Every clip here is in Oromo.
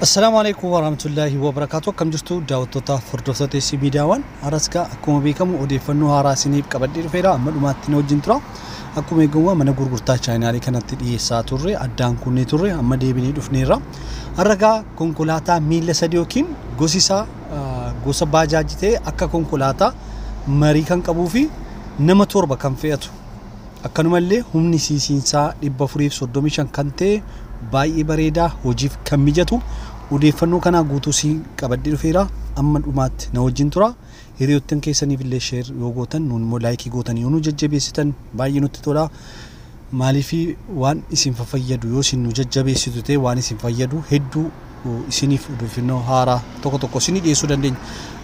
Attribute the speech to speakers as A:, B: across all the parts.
A: Assalaamu alaikum warahmatullaahi wabarakaatu akkam jirtu daawwattoota hordoftoota isii miidiyaawwan haras gaa akkuma beekamu odeeffannoo haaraa isiniif qabadhee dhufeera amma dhumaatti na wajjin tura akkuma eegamu mana gurgurtaa chaayinaalii kanatti dhiyeessaa turre addaan kunnee turre amma deebinee dhufneerra har'a gaa konkolaataa miila sadii yookiin gosi isaa ah, gosa baajaajii ta'e akka konkolaataa marii kan qabuu fi nama torba kan fe'atu Akkanumallee humni siisiinsaa 435 kan ta'e baay'ee bareedaa hojiif kan mijatu odeeffannoo kanaa guutuu siin qabadhee dhufeera amma dhumaatti na wajjin tura hiriyoottan keessaniif illee sheer yoo gootan nuun immoo laayikii gootanii yoo nu jajjabeessitan baay'ee nutti tola maaliif waan isin fayyadu yoo isin nu jajjabeessitu ta'e waan isin fayyadu hedduu isiniif odeeffannoo haaraa tokko tokko isinii dhiyeessuu dandeenya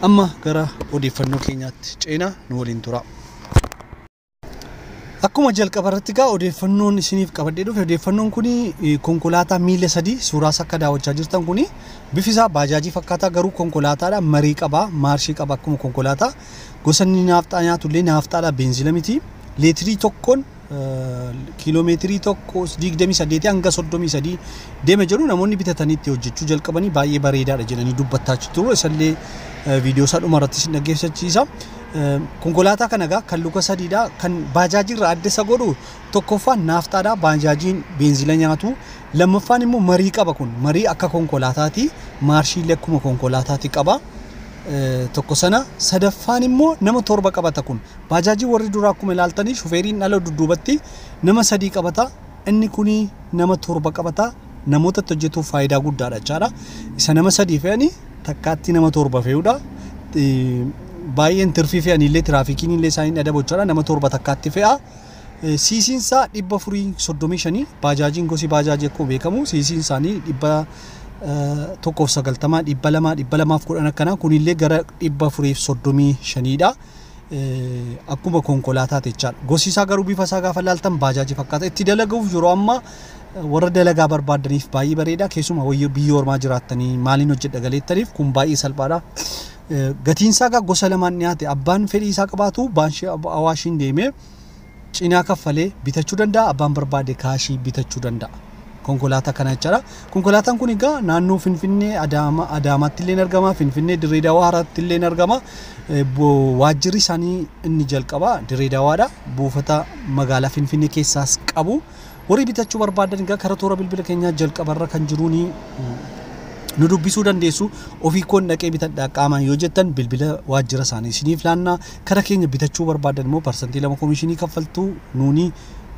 A: amma gara odeeffannoo keenyaatti ceena nu waliin tura. Akkuma jalqaba irratti egaa odeeffannoon isiniif qabadhee dhufe odeeffannoon kun konkolaataa miila sadii suuraa isaa akka daawwachaa jirtan kun bifi isaa baajaajii fakkaataa garuu konkolaataadha marii qaba maarshii qaba akkuma konkolaataa gosa inni naafxaa nyaatu illee naafxaadha beenzila miti leetirii tokkoon kiiloomeetirii tokko digdamii saddeetii hanga soddomii sadii deema jedhu namoonni bitatanii itti hojjechuu jalqabanii baay'ee bareedaadha jedhanii dubbataa jiru isallee viidiyoo isaa dhuma irratti isin dhaggeeffachiisa. Konkolaataa kana egaa kan luka sadiidha. Kan baajaajiirraa adda isa godhu tokkoffaan naafxaadha. Baajaajiin beenzila nyaatu. Lammaffaan immoo marii qaba kun. Marii akka konkolaataati. Maarshiillee akkuma konkolaataati qaba. Tokko sana sadaffaan immoo nama torba qabata kun. Baajaajii warri duraa akkuma ilaaltanii shufeeriin dhala dudduubatti nama sadii qabata. Inni kun nama torba qabata. namoota itti hojjetuuf faayidaa guddaadha jechaadha. Isa nama sadii fe'ani takkaatti nama torba fe'udha. Baay'een tirfii fe'anii illee tiraafikiin illee isaan hin adabu jechaadha. Nama torba takkaatti fe'a. Siisiin isaa dhibba furii soddomii shanii baajaajiin gosi baajaajii akkuma beekamu siisiin isaanii dhibba tokkoof sagaltamaa dhibba lamaa dhibba lamaaf kudhan akkanaa kunillee gara dhibba furiif soddomii shaniidha. akkuma konkolaataati jechaadha. Gosi isaa garuu bifa isaa gaafa ilaaltan baajaaji fakkaata. Itti dalaguuf yeroo ammaa warra dalagaa barbaadaniif baay'ee bareeda. Keessumaa wayyo biyya ormaa jiraattanii maaliin hojjedha galeettaniif kun baay'ee salphaadha. Gatiin isaa egaa gosa lamaan dhiyaate abbaan fedhii isaa qabaatu baanshee awaashiin deemee cinaa kaffalee bitachuu danda'a abbaan barbaade kaashii bitachuu danda'a konkolaataa kana jechaadha konkolaataan kun egaa naannoo finfinnee adaama adaamaatti illee argama finfinnee dirree dawaaraatti illee argama Eh, bo- waajjirri isaanii inni jalqabaa dirree dawaadha buufata magaalaa finfinnee keessaas qabu Warri bitachuu barbaaddan egaa kara toora bilbila keenyaa jalqaba irra kan jiruun nu dubbisuu dandeessu. Ofii koon dhaqee bitadha qaamaan yoo jettan bilbila waajjira isaanii isiniif laanna. Kara keenya bitachuu barbaaddan immoo parsantii lama komishinii kaffaltu nuuni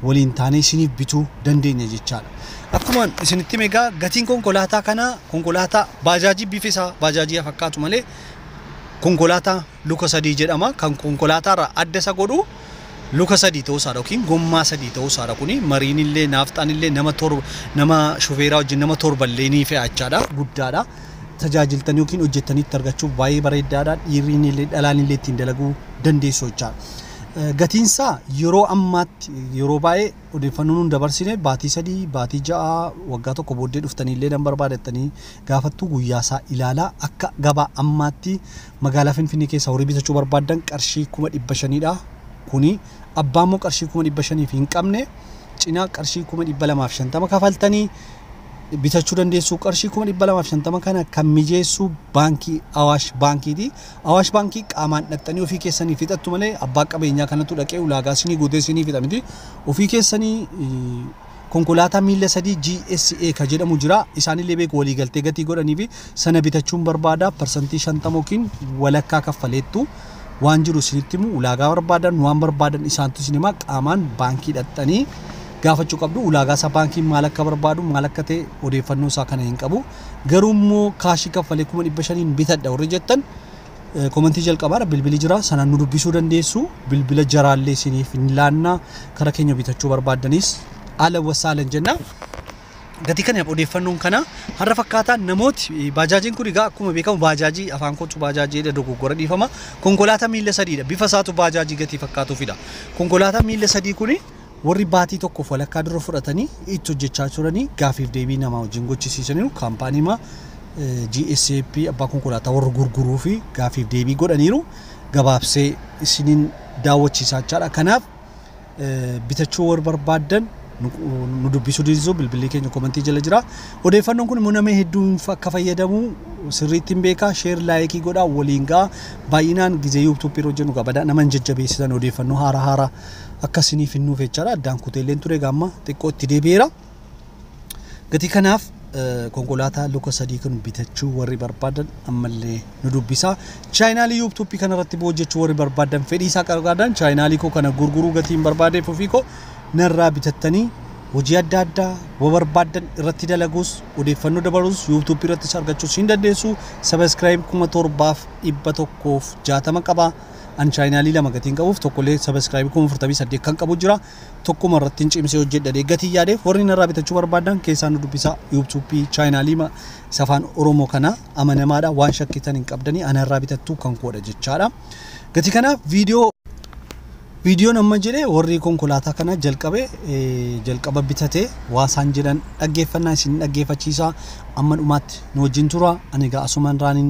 A: waliin taanee isiniif bituu dandeenya jechaadha. Akkuma isinitti hime egaa gatiin konkolaataa kanaa konkolaataa baajaajii bifi isaa baajaajii haa fakkaatu malee konkolaataa luka sadii jedhama. Kan konkolaataarraa adda isa godhu luka sadii ta'uu isaadha yookiin gommaa sadii ta'uu isaadha. Kuni mariin illee naafxaan illee nama torba nama shufeeraa wajjin nama torba illee ni fe'a jechaadha. Guddaadha. Tajaajiltanii yookiin hojjettanii itti argachuuf baay'ee bareeddaadha. Dhiirriin illee dhalaan illee ittiin dalaguu dandeessu jechaadha. Gatiin isaa yeroo ammaatti yeroo baay'ee odeeffannoo nuun dabarsine baatii sadii baatii ja'a waggaa tokko booddee dhuftanii illee nan barbaadattanii gaafattuu guyyaa isaa ilaalaa akka gabaa ammaatti Magaalaa Finfinnee keessaa horii bitachuu barbaaddan qarshii kuma dhibba shaniidha. Kuni abbaa immoo qarshii kuma dhibba shaniif hin qabne cinaa qarshii kuma dhibba lamaaf shantama kafaltanii bitachuu dandeessu. Qarshii kuma dhibba lamaaf shantama kana kan mijeessu baankii Awaash baankiiti. Awaash baankii qaamaan dhaqxanii ofii keessanii fixattu malee abbaa qabeenyaa kanatu dhaqee ulaagaa sinii guutee sinii fixa miti. Ofii keessanii Konkolaataa miilla sadii GSA ka jedhamu jira. Isaanillee beeku waliigaltee gatii godhaniifi sana bitachuun barbaada. Parsantii 50 yookiin walakkaa kaffaleettu. Waan jiru isinitti himu ulaagaa barbaadan waan barbaadan isaantu isin hima qaamaan baankii dhaqxanii gaafachuu qabdu. Ulaagaa isaa baankiin maal akka barbaadu maal akka ta'e odeeffannoo isaa kana hin qabu. Garuu immoo kaashii kaffalee kuma dhibba shaniin bitadha warri jettan Komentii jalqabaadha bilbili jira sanaan nu dubbisuu dandeessu bilbila jaraallee isiniif hin laanna kara keenya bitachuu barbaaddanis ala wasaalan jenna. Gatii kanaaf odeeffannoon kana har'a fakkaataa namooti baajaajiin kun egaa akkuma beekamu baajaajii afaan kootu baajaajii jedha dogoggora dhiifama konkolaataa miila sadiidha bifa isaatu baajaajii gatii fakkaatuufidha konkolaataa miila sadii kun Warri baatii tokkoof walakkaa dura fudhatanii itti hojjechaa turanii gaafiif deebii namaa wajjin gochisiisaniiru. Kaampaaniima GSAP abbaa konkolaataa warra gurguruu fi gaafiif deebii godhaniiru. Gabaabsee isiniin daawwachiisaa jechaadha. Kanaaf bitachuu warri barbaaddan nu dubbisuu dinsisu bilbilli keenya komentii jala jira. Odeeffannoon kun immoo namni hedduun akka fayyadamu sirriitti hin beeka. Sheer laayikii godhaa waliin ga'a. Baay'inaan gizee yuutuuppii irra hojjennu gabadaa nama hin jajjabeessitan odeeffannoo haara haara akka isiniif hin nuufe jechaadha addaan kuteelleen ture egaa amma xiqqoo itti deebi'eera gatii kanaaf eh, konkolaataa luka sadii kun bitachuu warri barbaadan ammallee nu dubbisaa chaayinaalii yuubtuuppii kanarratti boo hojjechuu warri barbaadan fedhii isaa qarqaadan chaayinaalii koo kana gurguruu gatii hin barbaadeef ofii koo narraa bitattanii hojii adda addaa wa barbaadan irratti dalaguus odeeffannoo dabaluus yuubtuuppii irrattis argachuus hin dandeessu sabaskiraayib kuma torbaaf dhibba tokkoof jaatama qaba An chaayinaalii lama gatiin qabuuf tokkollee subscribe kuma afurtamii saddeet kan qabu jira. Tokkuma irratti hin cimsee hojjedha dee gatii yaadeef warri narraa bitachuu barbaaddan keessaa nu dubbisaa YouTube chaayinaalii ma isa afaan Oromoo kana amanamaadha waan shakkitan hin qabdanii ana irraa bitattuu kan koodha jechaadha. Gatii kanaaf viidiyoo Viidiyoon amma jedhe warri konkolaataa kana jalqabe eh, jalqaba bitate waa isaan jedhan dhaggeeffannaa isin dhaggeeffachiisa amma dhumaatti nu wajjin tura ani egaa asumaan raaniin